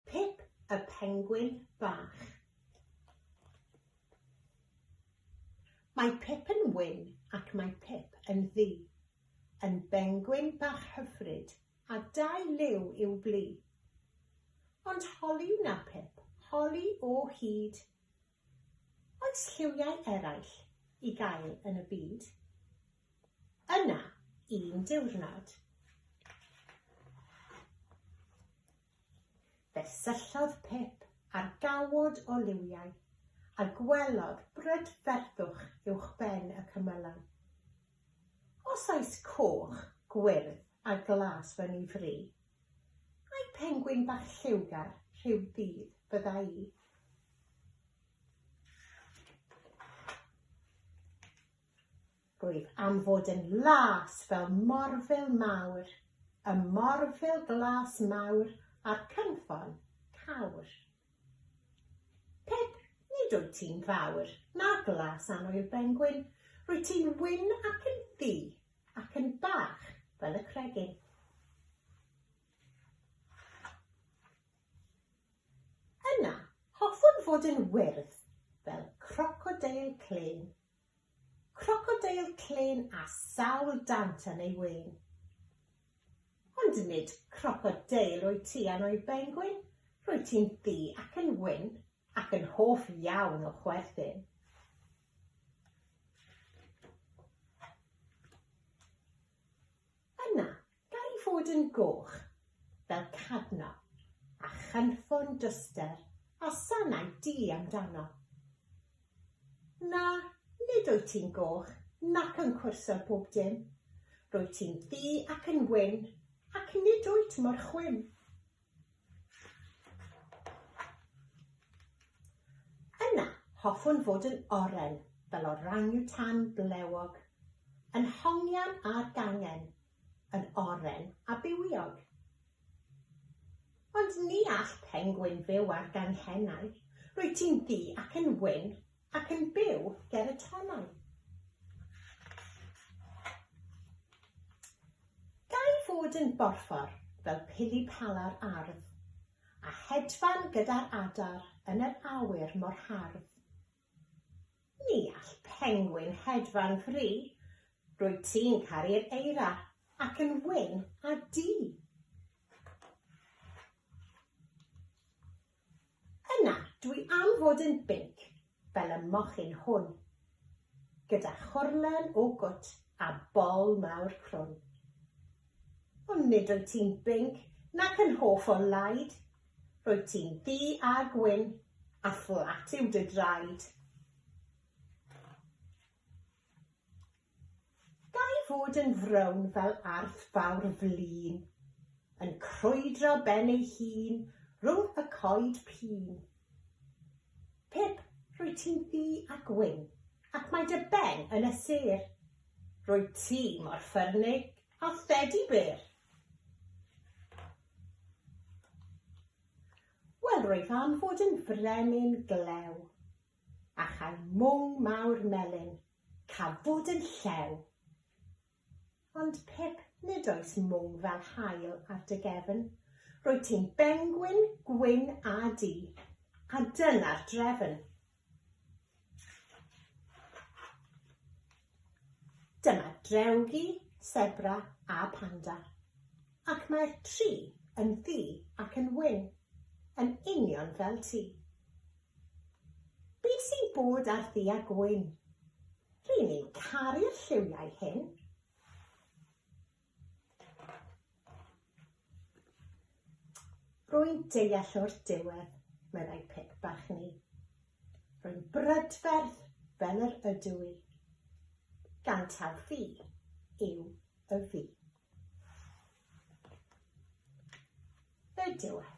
Pip y Pengwin Bach Mae Pip yn wyn ac mae Pip yn ddu, yn bengwin bach hyfryd a dau liw i'w blu. Ond holi wna Pip, holi o hyd! Oes lliwiau eraill i gael yn y byd? Yna un diwrnod. Fe syllodd Pip ar gawod o liwiau, a gwelodd brydferthwch uwchben y cymylau. Os oes coch, gwyrdd a glas fy ni fri, ai pengwin bach lliwgar rhyw ddydd fydda i? Rwyf am fod yn las fel morfil mawr, y morfil glas mawr a'r cynffon cawr. Pip, nid wyt ti'n fawr, na glas annwyl bengwin, rwyt ti'n wyn ac yn ddu, ac yn bach fel y cregyn. Yna, hoffwn fod yn wyrdd fel crocodeil clên. Crocodeil clên â sawl dant yn ei wên. Ond nid crocodeil wyt ti a neu bengwin, rwyt ti'n ddu ac yn wyn, ac yn hoff iawn o chwerthin. Gall fod yn goch, fel cadno, a chanfon dyster a sanau du amdano. Na, nid wyt ti'n goch, nac yn cwrso bob dim. Rwyt ti'n ddu ac yn wyn, ac nid wyt mor chwim. Yna, hoffwn fod yn oren fel orangutan blewog, yn hongian a'r gangen, yn oren a bywiog. Ond ni all pengwin fyw ar ganghennau, rwyt ti'n ddu ac yn wyn, Ac yn byw ger y tonnau. Gai fod yn borffor fel pili pala'r ardd, a hedfan gyda'r adar yn yr awyr mor hardd. Ni all pengwin hedfan fri, rwyt ti'n caru'r eira ac yn wyn a di. Yna, dwi am fod yn binc, fel y mochyn hwn, gyda chorlen o gwt a bol mawr crwn. Ond nid wyt ti'n binc nac yn hoff o laid, rwyt ti'n ddu a gwyn, a fflat yw dy draed. Gai fod yn frown fel arth fawr flin, Yn crwydro ben ei hun rhwng y coed pîn? Pip, rwyt ti'n ddu a gwyn, ac mae dy ben yn y sêr, Rwyt ti mor ffyrnig â thedi bêr. Wel, rwyf am fod yn frenin glew, a chael mwng mawr melyn, cafwyd yn llew! Ond Pip, nid oes mwng fel haul ar dy gefn, rwyt ti'n bengwin gwyn a du, a dyna'r drefn. Dyma drewgi, sebra a panda, ac mae'r tri yn ddu ac yn wyn, yn union fel ti. Beth sy'n bod ar ddu a gwyn? Ry'n ni'n caru'r lliwiau hyn. Rwy'n deall o'r diwedd, meddai Pip bach ni. Rwy'n brydferth fel yr ydw i. Gan taw fi yw y fi. Y diwedd.